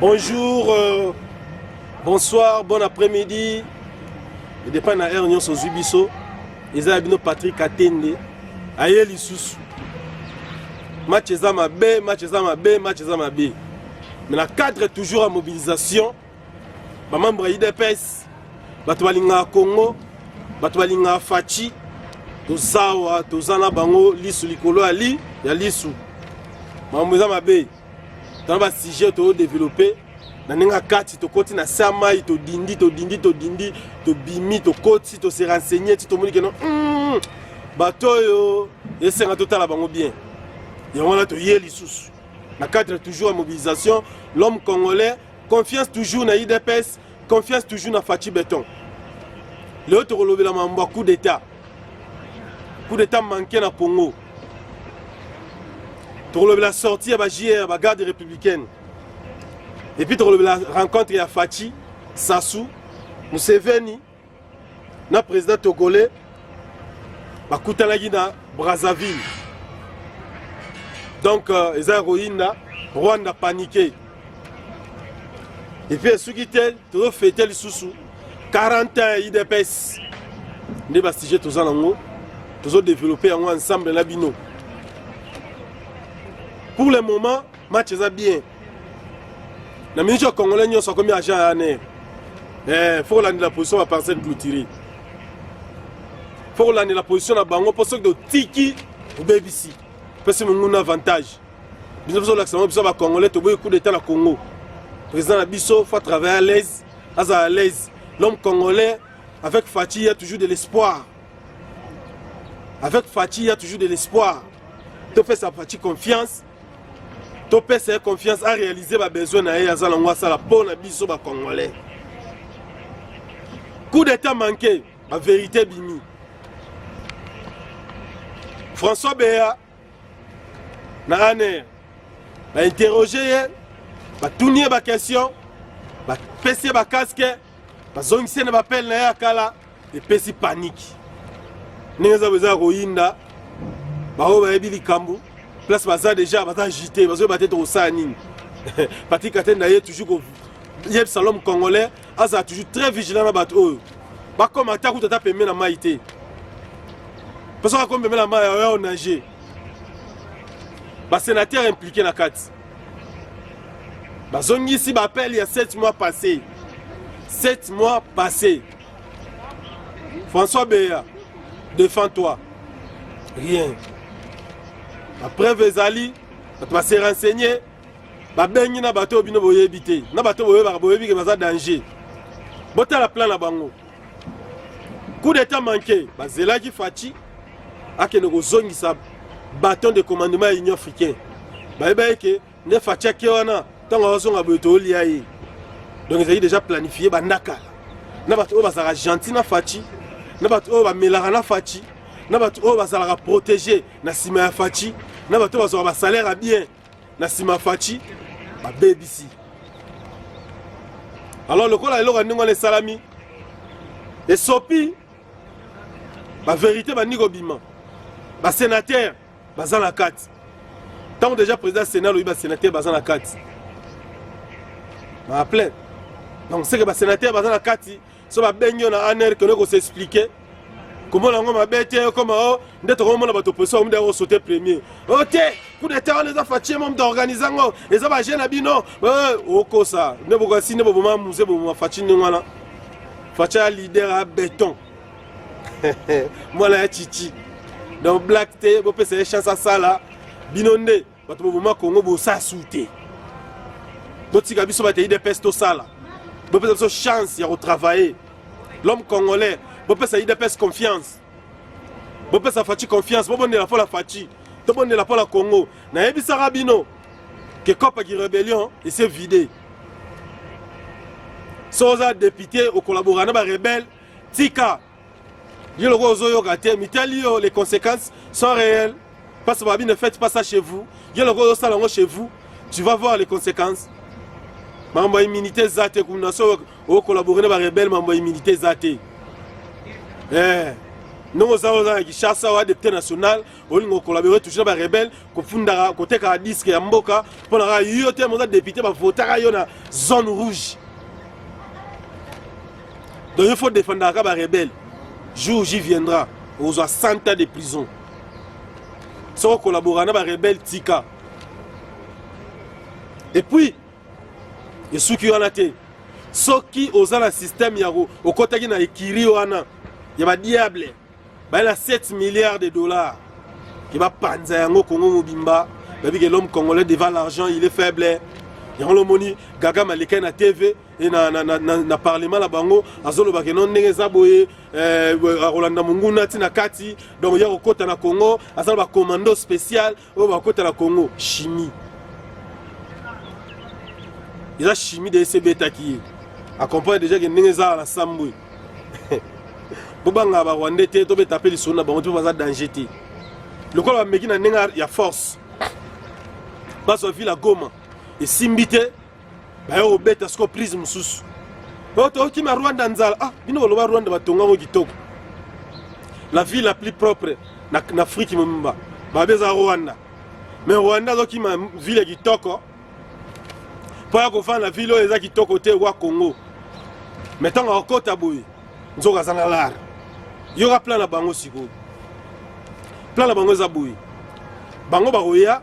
Bonjour, euh, bonsoir, bon après-midi. Et dépend na heure nyonso ozwi biso. Eza bino Patrick Atende. Aye lisusu. Match eza mabe, match eza mabe, match eza mabe. Mais na cadre toujours à mobilisation bamembre ya udps bato balingaka congo bato balingaka faci tozawa toza na bango lisu likolo ya li ya lisu makambo eza mabe tana basujet toyodevelope na ndenge ya kati tokoti na se ya mai todindi todindi todindi tobimi tokoti tose renseigne ti tomoni keno mm, bato oyo esenga totala bango bien yango wana toye lisusu na cadre toujours ya mobilisation l'homme congolais confiance toujours na idps confiance toujours na faci beton lelo tokolobela mambo ya coup d'état coup d'état manke na congo tokolobela sortie ya ba jr ba garde républicaine epuis tokolobela rencontre ya faci sasu museveni na president togolais bakutanaki na brazzaville donc euh, eza ya koyinda rwanda panike epuis esuki te tozofete lisusu 41 idps nde basujet toza nango tozodeveloppe yango ensemble na bino pour le moment match eza bien na minute ya congolais nyonso akomi agent ya aner eh, fo kolandela position ya parcelle clôturé fo kolandela position na bango mpo soki totiki obebisi pesi monguna avantage biso tozolakisa bango biso bacongolais toboyi coup d'état na congo président na biso fo atravaille à l'aise azala à l'aise l'homme congolais avec faci il y a toujours de l'espoir avec faci il y a toujours de l'espoir topesa faci confiance topesa ye confiance arealize babesoin na ye aza nango asala mpo na biso bacongolais coup d'état manqué baverité bimi françois beya na aner bainterroge ye batuni ye baquestion bapesi ye bakaske bazongisi na bapele na ye ya kala epesi paniki ndenge eza eza koyinda baoyo bayebi likambo place baza deja baza agite bazoyeba te tokosala nini patrik atenda ye toujours koyebisa lome congolais azala toujours très vigilant na bato oyo bakoma ata kutu ata pembe na mai te mpo soki akomi pembe na mai oyo nage basenateur implike na kati bazongisi ba appel ya 7 mois passé 7 mois passé François Beya défend toi rien la preuve ezali bato base renseigner babengi na bato oyo bino boyebi te na bato boyebaka boyebi ke baza danger botala plan na bango coup d'etat manqué bazelaki faci akende kozongisa baton de commandement ya union africain bayebaki ke nde faci ake wana ntango azozonga boye tolia ye donc ezalaki déjà planifie banda kala na bato oyo bazalaka gentil na faci na bato oyo bamelaka na faci na bato oyo bazalaka protege na nsima ya faci na bato oyo bazwaka basalaire ya bien na sima faci babebisi alors lokola eloko ya ndenge wana esalami esopi baverité bandi kobima basénateur baza na kati ntango déjà président sénat alobi basénateur baza na kati na plein donc seke basénateur baza na kati so babengi yo na aner kende kosexplike komona yango mabe te okoma o oh, nde tokomona bato opposition omuda kosote premier o oh, te coup d'état wana eza fatie mo moto aorganize yango eza baje na bino eh, okosa nde bokasi nde boboma muse boboma faci ndenge wana faci ya leader ya beton mwana ya chichi donc black te bopesa ye chance asala bino nde bato boboma kongo bosala su te botika biso bato ya idps tosala bopesa biso chance ya kotravaille l'homme congolais bopesa idps confiance bopesa faci confiance bobondela mpo na faci tobondela mpo na congo nayebisaka bino ke cope ki rebellion ese vide so oza depute okolabora na barebele tika yo lokola ozoyoka te mitali yo les conséquences sont réelles parce que babi ne faites pas ça chez vous yo lokola ozosala yango chez vous tu vas voir les conséquences mambo ya immunité eza te kuna so okolabore na barebele mambo ya immunité eza te eh. ndenge oza oza na kinshasa oa depute national olinga okolabore toujours na barebele kofundaka kotekaka diske ya mboka mpo na kaka yo te moza depute bavotaka yo na zone rouge donc il faut défendaka kaka barebele jour j'y viendra okozwa 100 ans de prison soki okolabora na barebele tika epuis esuki wana te soki oza na systeme ya okotaki na ekiri wana ya badiable bayela 7 milliards de dollars ke bapanza yango kongo mobimba bayebi ke l'homme congolais devant l'argent il est faible yango lomoni gaga maleka na tv e na, na, na, na, na parlement na bango azoloba ke no ndenge eza boye eh, akolanda monguna ti na kati donc ya kokɔta na congo aza na bacommando spécial oyo bakota na congo chimie eza chimie de ese ebetaki ye acomprendre déjà ke ndenge ezala na sambwe bobangaka barwandais te tobeta mpe lisolo na bango te mpo baza danger te lokola bameki na ndenge ya force bazwa ville ya goma esimbi te baye kobeta siko prise mosusu oyo tokima rwanda nzala ah bino boloba rwanda batonga yango kitoko la ville la plus propre na, na afrique mobimba babe eza rwanda me rwanda azokima ville kitoko mpo ya kofanda na ville oyo eza kitoko te wa congo me ntango akokota boye nzoka aza na lar yoka plan na bango sikoyo plan na bango eza boye bango bakoya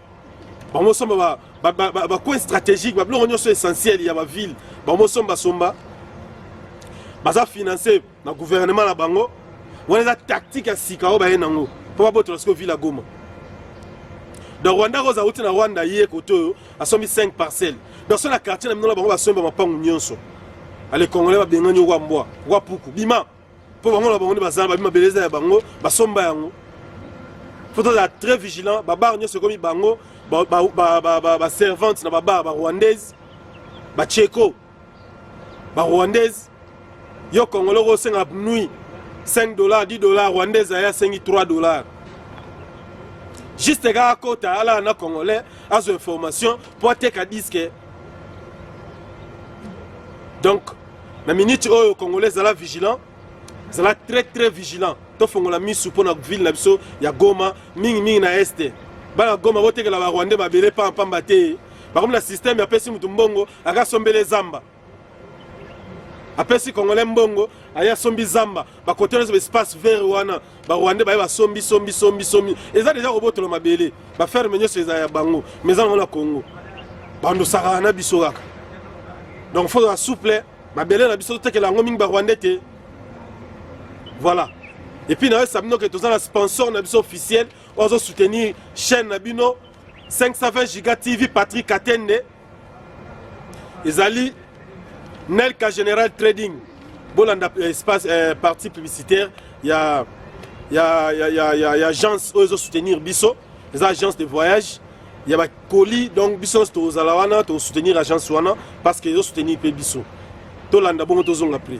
bamosomba bacoin stratégique babiloko nyonso essentiel ya baville bamosomba somba baza finance na gouvernement na bango wana eza tactique ya sika oyo baye nango mpo babotola sikoyo ville ya goma donc rwanda koza uti na rwanda ye kote oyo asombi 5 parcelle donc so na quartier na bino na bango basomba mapangu nyonso ale congolais babengani okwa mbwa okwa puku bima mpo bango na bango nde bazala babi mabele eza ya bango basomba yango fo tozala très vigilant babare nyonso ekomi bango baservante na babare barwandaise bacheko barwandaise yo congolais oko osenga nui 5 dollars 10 dollars rwandaise aye asengi 3 dollars juste kaka kota alala na congolais azwa information mpo ateka diske donc na miniti oyo congolais zala vigilant zala très très vigilant tofongola misu mpo na ville na biso ya goma mingimingi na este bana goma botekela barwandais mabele pampamba te bakomi na systeme apesi motu mbongo aka sombele zamba apesi congolais mbongo aye asombi zamba bakote nyonso baespace vert wana ba rwandais baye basombi sombi sombi sombi eza deja kobotola mabele baferme nyonso eza ya bango ma eza nango na congo bandosaka na biso kaka donc fo na souple mabele na biso totekela yango mingi barwandais te voilà epuis nayebisa bino ke toza na sponsor na biso officiel oyo azosoutenir chaîne na bino 520 giga tv patrick katende ezali nelka general trading bolanda eh, espace eh, partie publicitaire ya ya ya ya ya, ya agence oyo ezo soutenir biso eza agence de voyage ya ba colis donc biso nyonso tozala wana tosoutenir agence wana parce que ezo soutenir mpe biso tolanda bongo tozonga prix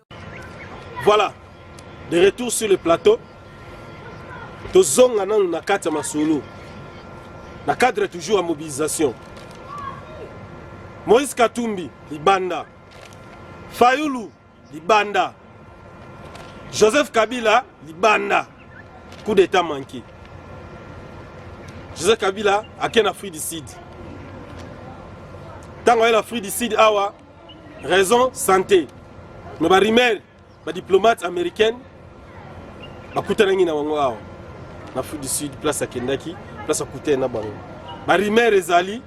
Voilà, de retour sur le plateau. tozonga nanu na kati ya masolo na cadre toujours ya mobilisation moïse katumbi libanda fayulu libanda joseph kabila libanda coup d'état manqué joseph kabila ake na afrique du sud ntango aye na afrique du sud awa raison santé mais ba rumeur ba diplomate américaine bakutanaki na bango awa na afrique du sud place akendaki place akutani na bango ba rumeur ezali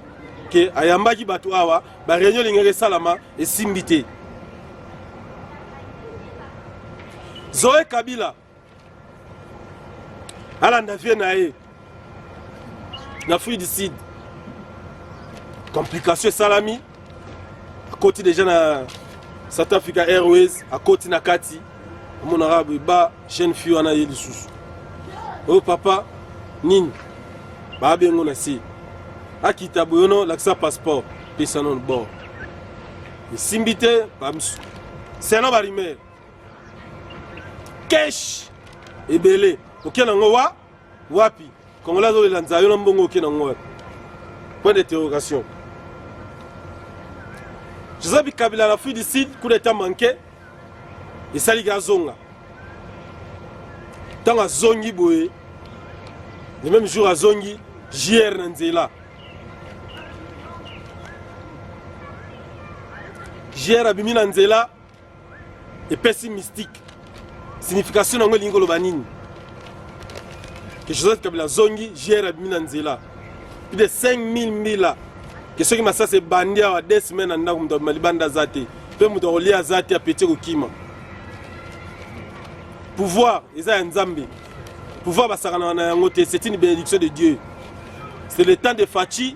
ke ayambaki bato awa ba réunion elingaki esalama esimbi te zoe kabila alanda vie na ye na fruit du sud complication esalami akoti deja na south africa airways akoti na kati amonaka ba jeune fille wana ye lisusu oyo oh, papa nini bayabi yango na se akita boyono lakisa passeport pesa nono bord esimbi te bamsu seno barimere cash ebele oke na ngo wa wapi congolais azolela nzayo na mbongo oke na ngo wapi point d'interrogation joseph bikabila na afrique du sud coup d'état manqué esaliki azonga ntango azongi boye le même jour azongi jr na nzela jr abimi na nzela epesi mystique signification na yango elingi koloba nini ke joseph kabila azongi jr abimi na nzela plus de 5000 mbila ke soki masasi ebandi awa de semaine na ndako moto abima libanda aza te mpe moto akolia aza te apeti kokima pouvoir eza ya nzambe pouvoir basakanaka na yango te c'est une bénédiction de dieu c'est le temps de faci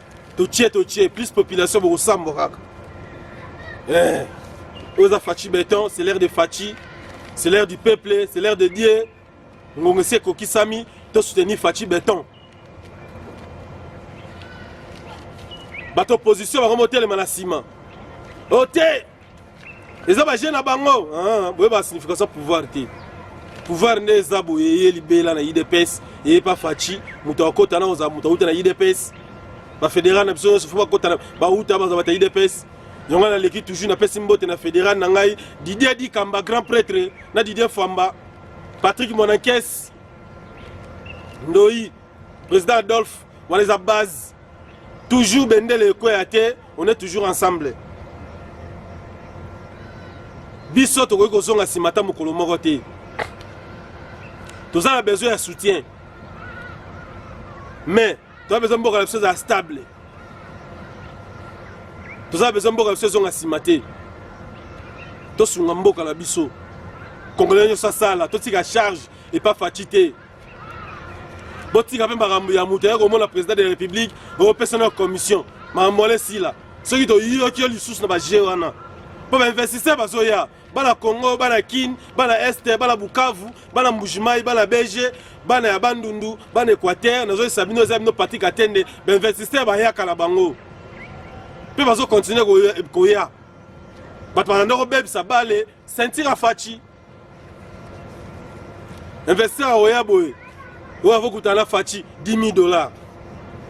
totie totie plus population bokosambwa kaka eh, oyo eza faci beton c'est l'air de faci c'est l'air du peuple c'est l'air de dieu ngongo esi ekokisami tosoutenir faci beton bato opposition bango motelema na nsima ote oh, eza baje na bango ah, boye ba signification pouvoir te pouvoir nde eza boye eye libela na idps eye pa faci moto akota na ozala moto auta na idps bafederal na biso nyonso fo bakota bauta baza bata idps yango naleki toujours napesi mbote na federal na ngai didier dikamba grand prêtre na didier famba patrick monakes ndoi Président Adolphe, wana eza base. Toujours bendele ekweya te, on est toujours ensemble. Biso tokoki kozonga nsima ata mokolo moko te. Toza na besoin ya soutien. Mais toza besoin mboka na biso ezala stable. Toza besoin mboka na biso ezonga nsima te. Tosunga mboka na biso. Congolais nyonso asala, totika charge epa faci te. botika mpe makambo ya moto ya komona président de la république opesa na commission makambo wana esila soki toyoki yo lisusu na baje wana mpo bainvestisseur bazoya bana congo bana kin bana este bana bukavu bana mbujimai bana bege bana ya bandundu bana équateur nazoyesa bino eza bino pati katende bainvestisseur bayaka na bango mpe bazokontinue koya bato balanda kobebisa bale sentire afaci investir aoya boye oyo akokuta na faci 10 dollars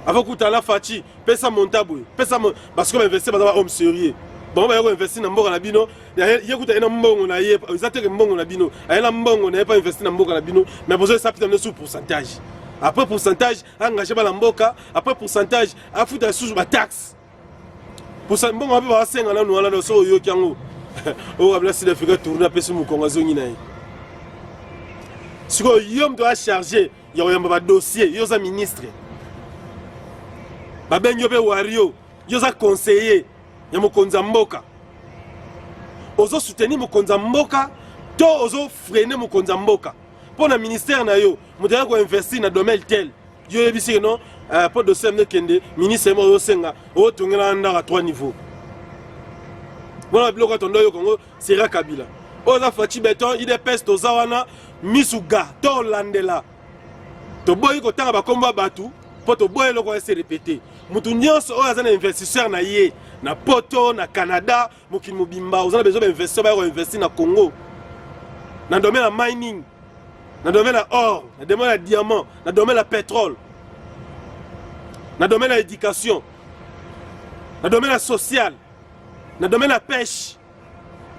akokuta na faci pesa monta boye pesa parce que bainvestir baza bahomme sérieux bango baye koinvestir na mboka na bino ye kuta ye na mbongo na ye eza teke mbongo na bino aye na mbongo na ye mpo investir na mboka na bino mais bozo esapita bino sur pourcentage après pourcentage engage bana mboka après pourcentage afuta lisusu bataxe posa mbongo wapi basenga nanu wana na soki oyoki yango oyo kabila sud africa tourne apesi mokongo azongi na ye sikoyo yo moto oya charge ya koyamba badossier yo oza ministre babengi yo mpe wario yo oza conseiller ya mokonzi ya mboka ozo soutenir mokonzi ya mboka to ozo freine mokonzi ya mboka mpo na ministère na yo moto yaya koinvestir na domaine tel yo yebisi ke non eh, po dossier amne kende ministre yema oyosenga otongela ndaka 3 niveau wana biloko atondo yo kongo sera kabila oyo oza faci beton idps toza wana misu ga tolandela toboyi kotanga bakombo ya bato mpo toboyi eloko ese repete moto nyonso oyo aza na investisseur na ye na poto na canada mokili mobimba oza na besoin bainvestisseur baya koinvestir na congo na domaine ya mining na domaine ya or na domaine ya diamant na domaine ya pétrole na domaine ya éducation na domaine ya social na domaine ya pêche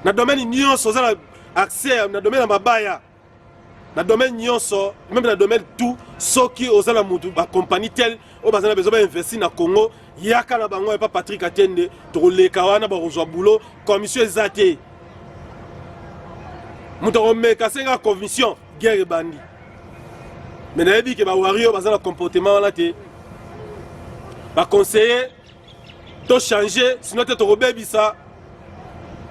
na domaine nyonso oza na accès na domaine ya mabaya na domaine nyonso meme na domaine tout soki oza na motu bacompagnie tel oyo baza na bezo bainvesti na congo yaka na bango epa patrik atiende tokoleka wana bakozwa boulot commission eza te moto akomeka senga commission guerre ebandi me nayebi ke bawario baza na comportement wana te baconseiller to changer sinon te tokobebisa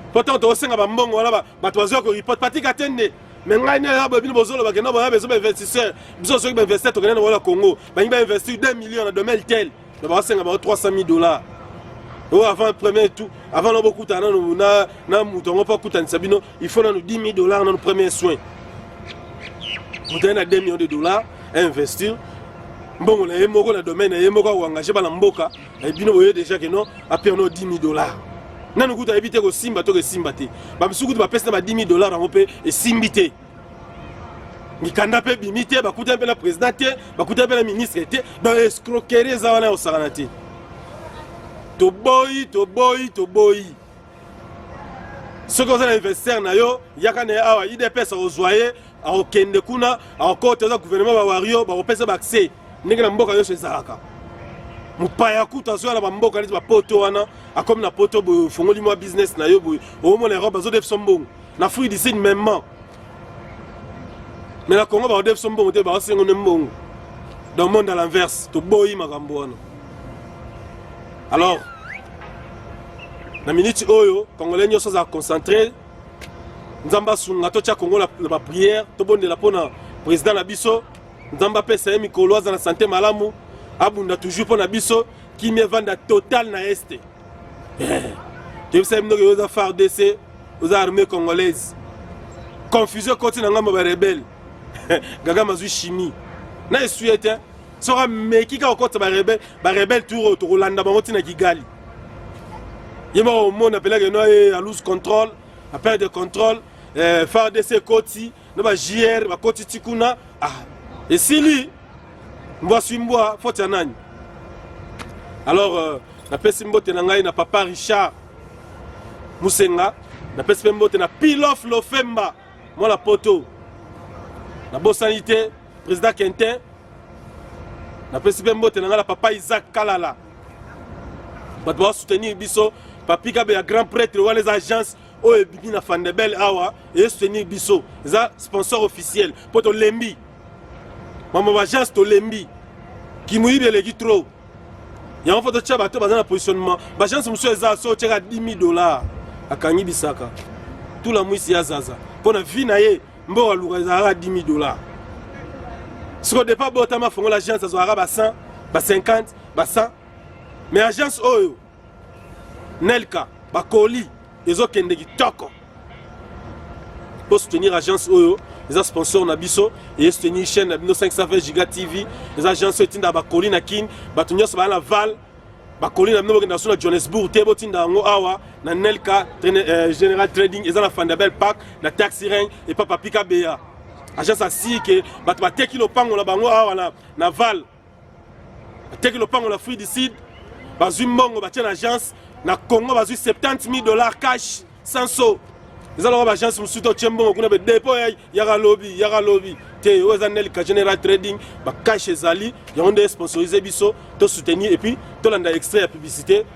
mpo ntango tokosenga bambongo wana bato bazwa koriport patika te nde me ngai nde yaba bino bozoloba kenda boya bezo bainvestisseur biso soki bainvestisseur tokende na bola congo balingi bainvestir 2 million na domaine tel me bakosenga bango 300 000 dollars oyo avant premier tout avant na bokutana nano na moto yango mpo akutanisa bino il faut nanu 10 000 dollars nanu premier soin moto aye na 2 millions de dollars investir mbongo na ye moko na domaine na ye moko akoengage bana mboka eh, bino boye déjà ke non apiano 10 000 dollars nanu kutu ayebi te kosimba to kosimba te bamisusu kutu bapesi na ba 10 000 dollars yango mpe esimbi te mikanda mpe ebimi te bakutani mpe na président te bakutani mpe na ministre te donc escroquerie eza wana ya kosakana te toboyi toboyi toboyi soki oza na investisseur na yo yaka na ye awa idps akozwa ye akokende kuna akokota eza gouvernement bawario bakopesa baaccès ndenge na mboka nyonso ezalaka mopaya kutu azoya na bamboka neti bapoto wana akomi na poto boye ofongoli mwa business na yo boye omona europe bazodefisa mbongo na fruit du sud maimement mais na congo bakodefi so mbongo te bakosengo nde mbongo dans monde à l'inverse toboyi makambo wana alors na miniti oyo congolais nyonso azala concentré nzambe asunga totya congo na baprière tobondela mpo na président na biso nzambe apesa ye mikolo aza na sante malamu abunda toujours mpo na biso kimia evanda total na este toyebisaki bino ke oza fardc oza armée congolaise confusion ekoti na ngambo ba rebelle gagama azwi chimie na esuye te soki ameki kaka okotisa barebele barebele tour oyo tokolanda bango ntina kigali ye moko omona mpelake no ye aluse contrôle aperte de contrôle eh, fardc ekoti na ba JR bakoti ti kuna ah, esili mbwa swi mbwa foti ya nani alors euh, napesi mbote na ngai na papa richard musenga napesi mpe mbote na pilof lofemba mwana poto nabosani te président quentin napesi mpe mbote na ngai na papa isaac kalala bato basoutenir biso papika be ya grand prêtre wana eza agence oyo ebimi na fandebel awa eye soutenir biso eza sponsor officiel mpo tolembi mambo bagence tolembi kimuyibi eleki trop yango mpo totya bato baza na positionnement bagence mosusu eza so otyaka 10 000 dollar akangi bisaka tula mwisi ya zaza mpo na vie na ye mboka luka ezalaka 10 000 dollar siko depa botama fongola agence azwaka ba 100 ba 50 ba 100 mais agence oyo Nelka bakoli ezokende kitoko po soutenir agence oyo eza sponsor na biso eye soutenir chaîne na bino 520 giga tv eza agence oyo etindaka bakoli na kin bato nyonso baya na val bakoli na bino bokenda so na johannesbourg te botinda yango awa na nelka euh, general trading eza na fandabel park na taxi ring epa papika beya agence asii ke bato bateki lopango na bango awa na, na val ateki lopango la fruit du sud bazwi mbongo batye na agence na congo bazwi 70 000 dollars cash sans so eza lokola baagence mosusu to otye mbongo kuna bedepo yaka lobi yaka lobi te oyo eza nelka general trading bacashe ezali yango nde esponsorize biso tosoutenir epuis tolanda extrait ya publicité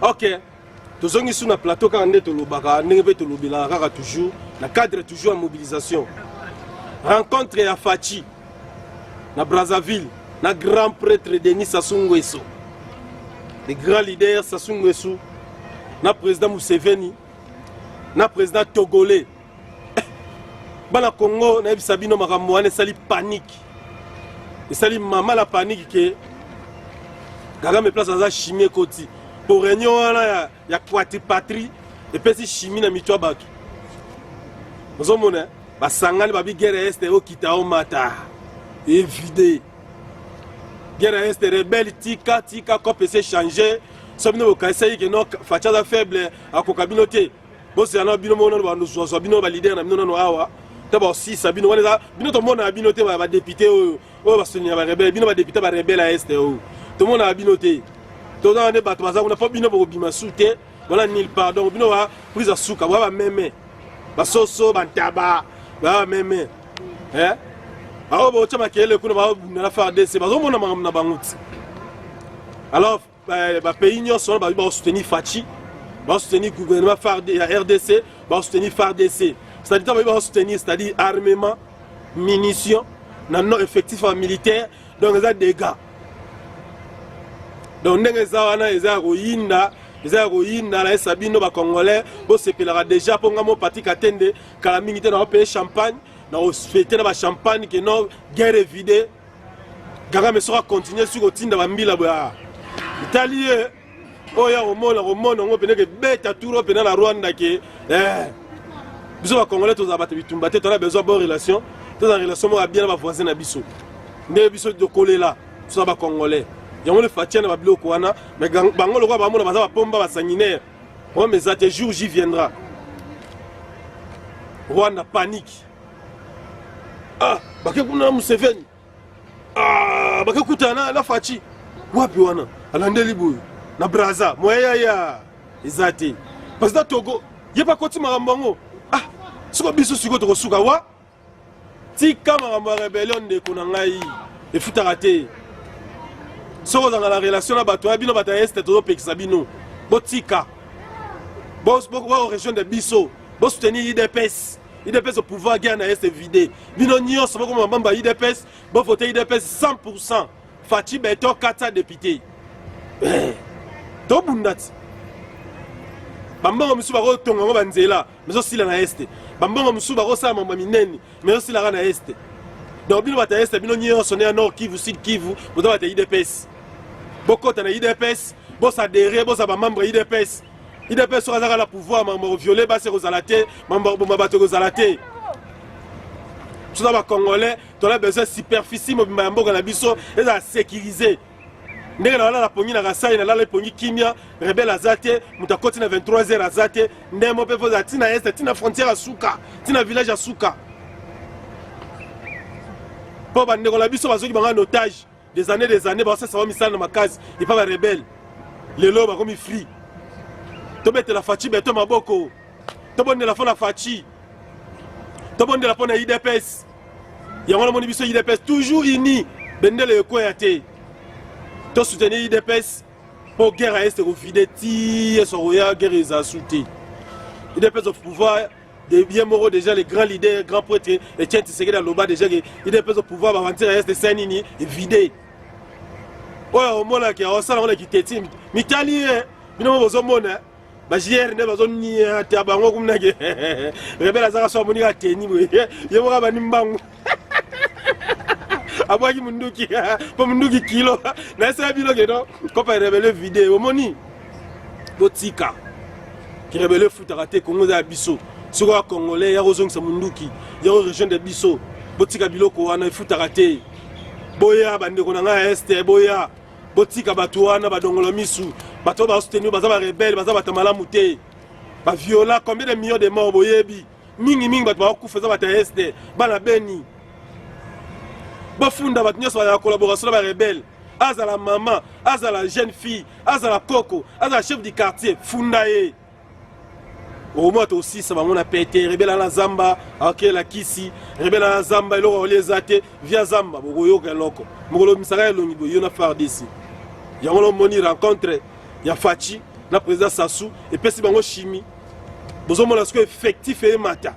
ok tozongi su na plateau kaka nde tolobaka ndenge mpe tolobelaka kaka toujours na cadre toujours ya mobilisation rencontre ya faci na brazzaville na grand prêtre denis sassou nguesso le grand leader sassou nguesso na président museveni na président togolais bana congo nayebisa bino makambo wana esali panike esali mama la panike ke kagame place aza chimie ekoti po réunion wana ya, ya quatripatrie epesi chimie na mitu ya bato ozomona basangani babi guerre ya este okita omata evide guerre ya este rebelle tika tika cop ese change so bino bokanisaki ke no faci aza faible akoka bino te bosela na bino moko nano bazwazwa bino balidere na bino nano awa to baosisa bino wana eza bino tomonaka bino te badepute oyo oyo basoni ya barebele bino badepute ya barebele ya este oyo tomonaka bino te tozaka nde bato baza kuna mpo bino bokobima su te bona nil part donc bino ba prise ya suka boya bameme basoso bantaba boya bameme eh? baoyo botya makelele kuna baobunda na fardc bazomona makambo na bango ti alors ba pays nyonso wana babi bakosoutenir faci bakosoutenir gouvernement ya rdc bakosoutenir fardc c'est-à-dire ntango babi bakosoutenir c'est-à-dire armement munition na non effectif ya militaire donc eza dégâts donc ndenge eza wana eza ya koyinda eza ya koyinda nayesa bino bacongolais bosepelaka déjà mpo ngai mopati katende kala mingi te naopeye champagne na ofete na bachampagne ke no guerre evide kagame soki akontinue soki kotinda bambila boya etali ye oyo ya komona komona yango mpena kebeta turo mpena na rwanda ke eh, biso bacongolais tozala bato bitumba te tona besoin bon relation toza na relation moko ya bien na bavoisin na biso nde biso tokolela toza bacongolais yango nde fatia na babiloko wana mais bango lokola bamona baza bapomba basanguinaire problème eza te jour j viendra rwanda panique ah bake kuna na museveni ah bake kutana na faci wapi wana alandeli boye na braza moya yaya eza te president togo ye bakoti makambo yango ah siko biso sikoyo tokosuka wa tika makambo ya rebellion ndeko na ngai efutaka te soki ozanga na relation na bato ya bino bato ya este tozopekisa bino botika bokorejoindre biso bosoutenir idps idps au pouvoir guerre na ye se vide bino nyonso bokoma mabamba idps bovote idps 100 faci beton 400 député eh, tobunda ti bambongo mosusu bakotonga yango banzela mezosila na este bambongo mosusu bakosala mambo ya minene mezosilaka na este donc bino bato ya este bino nyonso ne ya nord kivu sud kivu boza bato ya idps bokota na idps bosadere boza bamembre ya idps idps soki azaka na pouvoir makambo koviole basi ekozala te makambo koboma bato ekozala te biso na bacongolais tola besoin superficie mobimba ya mboka na biso ezala sécurise ndenge na balala pongi na kasai nalala epongi kimia rebele aza te moto akoti na 23 heures aza te ndemo mpe voza ntina este ntina frontière ya suka ntina village ya suka mpo bandeko na biso bazoki banga na otage des années des années baosesa bamisala na makasi epa barebele lelo bakomi free tobetela faci beto maboko tobondela mpo na faci tobondela mpo na idps yango namoni biso idps toujours uni bendele ekweya te tosoutenir idps mpo guerre ya este kovide ti yesu akoya guerre eza su te idps of pouvoir de bien moko déjà le grand leader grand prêtre Etienne Tshisekedi aloba déjà que il est au pouvoir ba wantir est saint nini vide oyo omonaki aosala ona kiteti mitali ye bino bozomona bajr nde bazoniata bango kumnake rebele azaka so amoni ka teni boye ye moko abandi mbangu abwaki munduki mpo munduki kilo na esala bino keno kopa rebele vide omoni botika kirebele efutaka te kongo eza ya biso soki oya congolais ya kozongisa munduki ya korejoindre biso botika biloko wana efutaka te boya bandeko na ngai ya este boya botika bato wana badongola misu bato oyo basouteni baza barebele baza bato malamu te baviola combien de millions de mort boyebi mingi mingi bato bakokufa eza bato ya este bana beni bafunda bato nyonso bazala collaboration na barebele azala mama azala jeune fille azala koko azala chef du quartier funda ye omwa tosisa bango na pete rebela na zamba akela kisi rebela na zamba eloko akolia eza te via zamba bokoyoka eloko mokolo misaka elongi boye yo na fardc yango lomoni rencontre ya faci na président sassou epesi bango chimie bozomona sikoyo effectif eyemata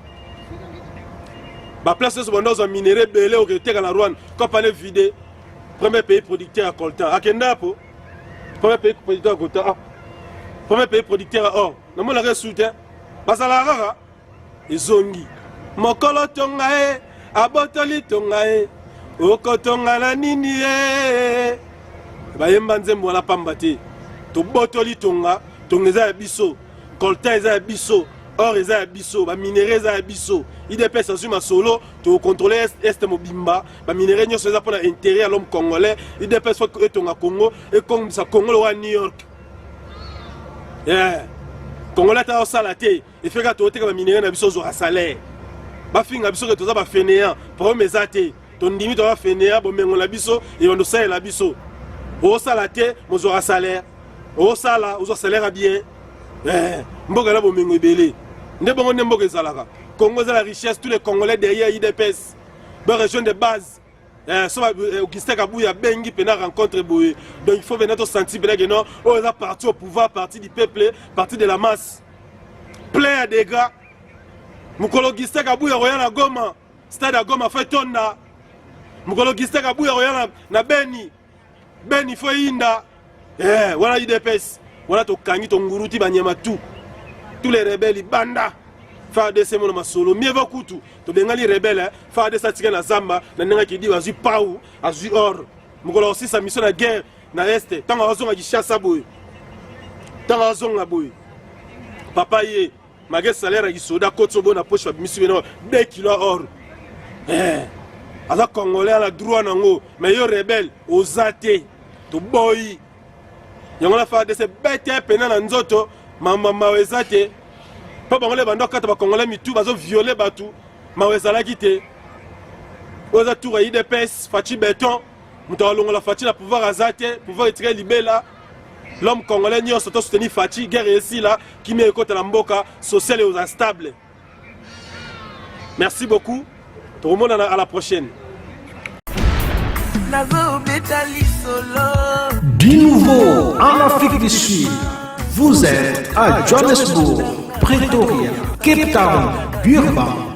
baplace nyonso banda ozwa minere ebele oketeka na rwanda kapane vide premier pays producteur ya coltan akenda yapo premier pays producteur ya coltan ah. premier pays producteur ya or namonaka esu te bazalaka kaka ezongi mokolo tonga ye abotoli tonga ye okotonga na nini ye bayemba nzembo wana pamba te tobotoli tonga tonga eza ya biso coltan eza ya biso or eza ya biso baminere eza ya biso idps azwi masolo tokontrole este mobimba baminere nyonso eza mpona intérêt ya l'homme congolais idps fo etonga congo ekongisa congo lokola new york yeah. congolais ata osala te efeka toteka baminere na biso ozwaka salaire bafinga biso ke toza bafeneyan problème eza te tondimi toza fenea bomengo na biso ebanda osalela biso osala te mozwaka salaire osala ozwa salaire ya bien eh, mboka na bomengo ebele nde bongo nde mboka ezalaka congo eza la richesse tous les congolais derrière idps ba région de base eh, so eh, augustin kabuya abengi mpena rencontre boye donc il faut mpena tosanti mpena ke non oyo eza parti au pouvoir parti du peuple parti de la masse plein ya dégats mokolo augustin kabuya koya na goma Stade ya Goma fo etonda mokolo Giste Kabuya koya na, na Beni Beni fo eyinda eh, wana UDPS wana tokangi tonguruti banyama tu tous les rebelles banda FARDC mono masolo mieux va kutu tobengani rebelle eh. FARDC atika na zamba na ndenge akidi azwi pau azwi or mokolo akosisa miso na guerre na este ntango azonga kishasa boye ntango azonga boye papa ye Malgré salaire ya kisoda kotsobo na poche babimisi bino 2 kilo or. Eh. Aza congolais ala droit nango mais yo rebelle oza te. Toboyi. Yango na fa de se bete pena na nzoto mama mawa eza te. Po bango le bando kata ba congolais mitu bazo violer batu mawa ezalaki te. Oza tour ya IDPS Fatshi Beton. moto akolongola faci na pouvoir aza te pouvoir etika libela l'homme congolais nyonso to soutenir faci guerre esila kimia ekota na mboka social eoza stable merci beaucoup tokomonana à la prochaine du nouveau en afrique du sud vous êtes à johannesburg pretoria cape town durban